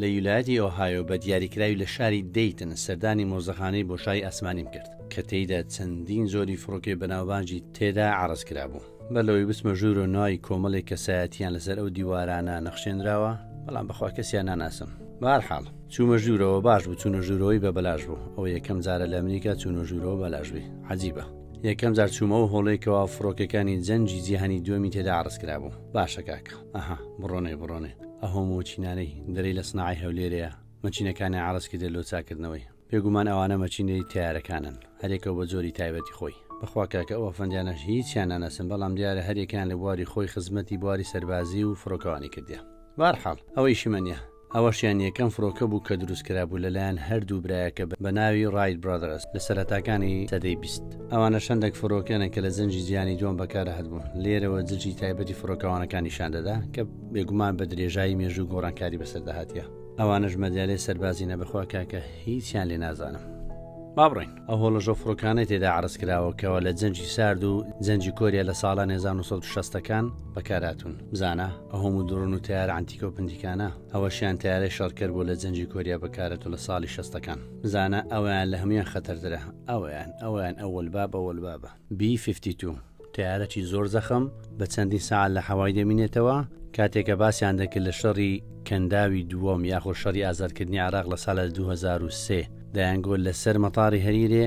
لە یولایەتی ئۆهایۆ بە دیاریکراوی لە شاری دەیتن سەردانی مۆزەخانەی بۆشای ئاسمانیم کرد کە تێیدا چەندین جۆری فڕۆکەی بەناوبانگی تێدا عەڕز کرابوو. بەر لەوەی بچمە ژوورۆ ناوی کۆمەڵێک کەسایەتییان لەسەر ئەو دیوارانە نەخشێنراوە، بەڵام بەخوا کەسیان ناناسم. بە هەر حاڵ چوومە ژوورەوە، باش بوو چوونە ژوورەوەی بە بەلاش بوو، ئەوە یەکەم جارە لە ئەمریکا چوونە ژوورەوە بەلاش بی، عەجیبە. یەکەم جار چوومە ئەو هۆڵەی کەوا فڕۆکەکانی جەنگی جیهانی دووەمی تێدا عەڕز کرابوو. باشە کاکە. ئەها بڕۆنێ بڕۆنێ ئەهۆ مۆچینانەی دەرێی لە سناعەی هەولێرێە مەچینەکانیان عەرەز کردێ لۆ چاکردنەوەی بێگومان ئەوانە مەچینەی تەیارەکانن هەرێکەو بە جۆری تایبەتی خۆی بەخوا کاکە ئەو ئەفەندیانەش هیچیان ناناسم بەڵام دیارە هەریەکەیان لە بواری خۆی خزمەتی بواری سەربازی و فڕۆکەوانی کردیە بەهەرحاڵ ئەوە ئیشی من نیە ئەوەشیان یەکەم فرۆکە بوو کە دروست کرابوو لەلایەن هەردوو برایەکە بە ناوی ڕایت برادەرس لە سەرەتاکانی سەدەی بیست. ئەوانە شەندەک فرۆکەنە کە لە جەنگی جیهانی دووەم بەکارهاتبوون. لێرەوە جلکی تایبەتی فرۆکەوانەکان نیشان دەدا کە بێگومان بە درێژایی مێژوو گۆڕانکاری بەسەردا هاتیە. ئەوانەش مەدالیای سەربازی نە بەخوا کاکە هیچیان لێ نازانم. با بڕۆین. ئەو هۆڵەشە فرۆکانەی تێدا عەرز کراوە کەوا لە جەنگی سارد و جەنگی کۆریا لە ساڵانی هەزار و نۆ سەد و شەستەکان بەکارهاتوون. بزانە. ئەهۆم و دڕۆن و تەیارە عەنتیکە و پنتیکانە ئەوەشیان تەیارەی شەڕکەر بوو لە جەنگی کۆریا بەکارەتوو لە ساڵی شەستەکان بزانە ئەویان لە هەموان خەتەرترە ئەویان ئەویان ئەوەلباب ئەوەلبابە بی فیفتی توو تەیارەکی زۆر زەخم بە چەندین سەعات لە حەوای دەمینێتەوە کاتێک کە باسیان دەکرد لە شەڕی کەنداوی دووەم یاخۆ شەڕی ئازادکردنی عێراق لە سالە 2023 دایانگۆ لەسەر مەتاڕی هەریرێ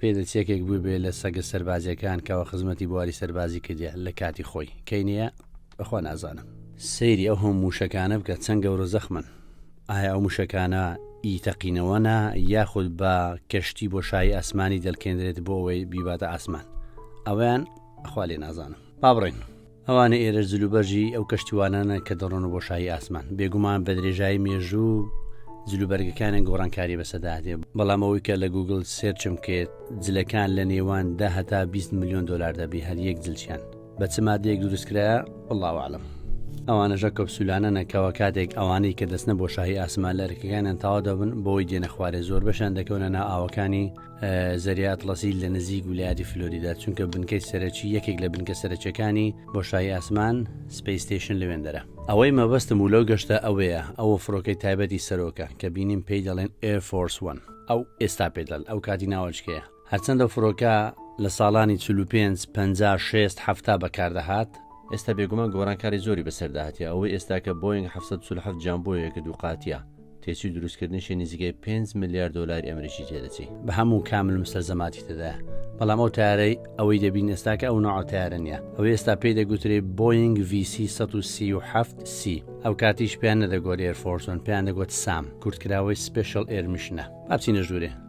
پێدەچێ یەکێک بووبێ لە سەگە سەربازیەکان کەوا خزمەتی بواری سەربازی کردیە لە کاتی خۆی کەی نیە بەخوا نازانم. سەیری ئەو هەموو موشەکانە بکە چەند گەورە زەخمن ئایا ئەو موشەکانە ی تەقینەوەنە یاخود بە کەشتی بۆشایی ئاسمانی دەلکێندرێت بۆ ئەوەی بیباتە ئاسمان ئەوەیان خوا لێ نازانم با بڕێن. ئەوانە ئێرەش جلوبەرگی ئەو کەشتیوانانە کە دەڕۆنە بۆ شایی ئاسمان بێگومان بە درێژایی مێژوو جلوبەرگەکانیان گۆڕانکاری بەسەداهێ بەڵام ئەوەی کە لە گوگل سێرچم کرد جلەکان لە نێوان دە هەتا 20 میلیۆن دلار دەبی هەر یەک جلچیان بە چ مادەیەک دروستکرایە بڵاوعاالم ئەوانەژە کەپسولانە نەکەوە کاتێک ئەوانەی کە دەستنە بۆ شاهی ئاسمان لە ئەرکەکانیان تاوا دەبن بۆی دێنە خوارێ زۆر بەشان دەکەونە نا ئاوەکانی زەریا ئەتڵەسی لە نزیک ویلایەتی فلۆریدا چونکە بنکەی سەرەکی یەکێک لە بنکە سەرەکیەکانی بۆشایی ئاسمان سپیستیشن لەوێندەرە ئەوەی مەبەستم و لەو گەشتە ئەوەیە ئەوە فڕۆکەی تایبەتی سەرۆکە کە بینیم پێی دەڵێن ئێفۆرس وەن ئەو ئێستا پێدەن ئەو کاتی ناوەچکەیە هەرچەندە فڕۆکە لە ساڵانی 45 56 هەفتا بەکاردەهات ئێستا بێگومان گۆرانکاری زۆری بەسەرداهاتە ئەوەی ئێستاکە بۆینگ 1970 جیان بۆیەکە دووقاتە تێچووی دروستکردنیشی نزیکەی پێنج ملیار دۆلاری ئەمریکی تێدەچی. بە هەموو کامل مستەلزەماتی تێدایە، بەڵام ئەو تەیارەی ئەوەی دەبین ئێستاکە ئەو نەوعە تەیارە نییە، ئەوەی ئێستا پێی دەگوترێ بۆینگ ڤی سی سەد و سی و حەفت سی، ئەو کاتیش پێیان نەدەگوت ئێر فۆرس وەن، پێیان دەگوت سام، کورتکراوەی سپێشڵ ئێر میشنە. با بچینە ژوورێ.